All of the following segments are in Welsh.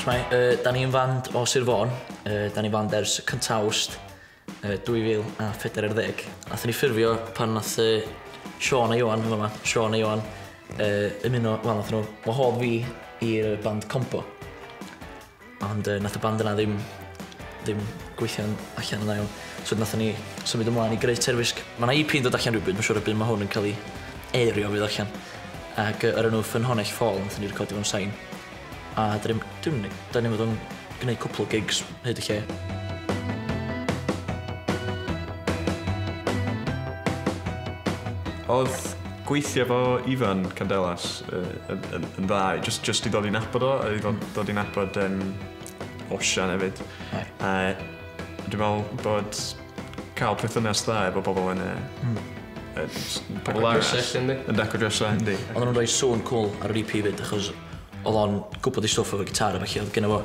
Shwmae, uh, da ni'n fand o Sir Fôn, uh, da ni'n fand ers cyntaf awst uh, 2014. Nath ni ffurfio pan nath uh, Sean a Iwan yn yma, Sean a Iwan, uh, ymuno, wel, nath nhw wahodd fi i'r band Combo. Ond yy nath y band yna ddim ddim gweithio'n allan yn dda iawn. So 'dyn nathon ni symud ymlaen i greu Terfysg. Ma' 'na Ee Pee yn dod allan rywbryd ma' siŵr y by' ma' hwn yn ca'l 'i eirio fydd allan. Ag yy o'r enw Ffynhonnell Ffôl nathon ni recordio mewn sain. A 'dyn ni'm dim ni 'dan ni fod yn gneud cwpwl o gigs hyd y lle. Odd gweithio 'fo Ifan Candelas yn, yn, yn dda, just, just i ddod i'n abod o, i ddod, ddod i'n abod um, Osian hefyd. Right. Uh, dwi'n meddwl bod cael perthynas dda efo bobl yn y... Mm. Yn pobl lawr sell, ynddi? Yn daco drefsa, ynddi. Ond nhw'n rhoi sŵn cool ar yr EP fyd, achos oedd o'n gwybod i stwff o'r gitar a felly oedd gen fo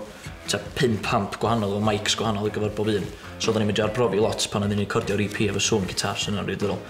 ta pum pamp gwahanol o mics gwahanol ar gyfer bob un. So oedden ni'n mynd i arbrofi lot pan oedden ni'n recordio'r EP efo sŵn gitar sy'n rhan rydyrol.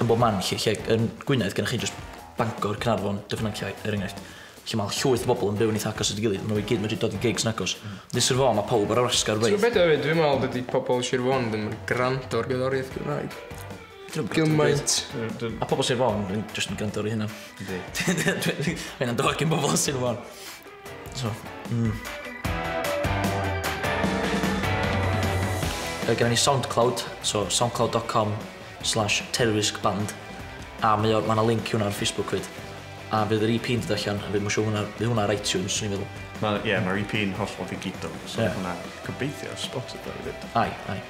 yn bob man 'lly lle yn Gwynedd gynnoch chi jyst Bangor, Caernarfon, Dyffryn Nantlle er enghraifft lle ma' llwyth o bobl yn byw'n eitha agos at ei gilydd, ma' nhw i gyd medru dod i gigs yn agos. Ond yn Sir Fôn ma' pawb ar wasgar Ti'n gwbod be' 'di o efyd dwi'n me'wl dydi pobol Sir Fôn ddim yn grando ar gerddoriaeth Cymraeg gymaint. Ma' pobol Sir Fôn yn jyst yn grando ar eu hunan. Yndi. Ma' hynna'n dod gin bobol Sir Fôn. So, mm. Mae gen i SoundCloud, so soundcloud.com slash terroristband. A mae o, mae link i hwnna ar Facebook fyd. A fydd yr EP yn dod allan, a fydd mwysio hwnna, fydd hwnna ar iTunes, swn i'n meddwl. Mae, ie, yeah, mae'r EP yn hollol ddigidol, so yeah. hwnna gobeithio Spotify fyd. Ai, ai.